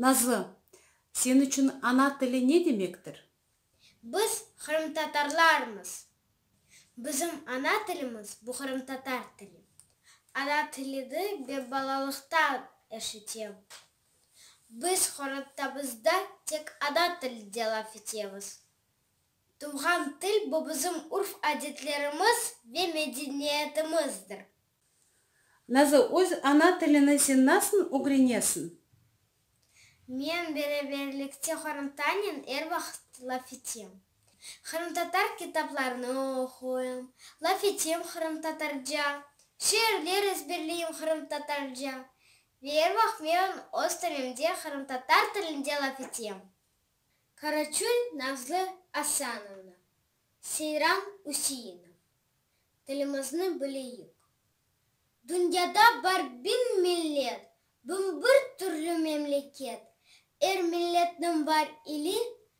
Nazlı, sen içün ana tili ne demektir? Biz qırımtatarlarmız. Bizim ana tilimiz bu qırımtatar tili. Ana tilidi be balalıqtan eşitem. Biz qoratabızda tek ada tilinde laf etemiz. Tuvğan til, bu bizim urf-adetlerimiz ve medeniyetimizdir. Nazı, öz ana tilini sen nasıl ögrenesiñ? Men beraberlikte qorantanen er vaqıt laf etem. Qırımtatar kitaplarını oquyım, laf etem qırımtatarca, şiirler ezberleyim qırımtatarca, Ve er vaqıt men öz tölemde qırımtatar tilinde laf etem. Karaçul Nazlı Asanovna, Seyran Üseinov, tilimizni bileyik. Dünyada bar biñ millet, biñ bir türlü memleket, er milletniñ bar ili,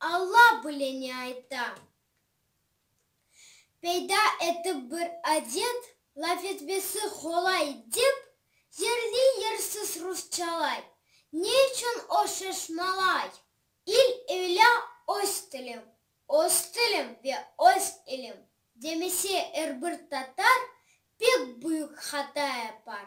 Alla bile ne ayta. Peyda etip bir adet, laf etmesi qolay dep, yerli-yersiz rusçalay. Ne içün o şaşmalay? İl öyle öz tilim, öz tilim ve öz ilim demese er bir tatar pek büyük hata yapar.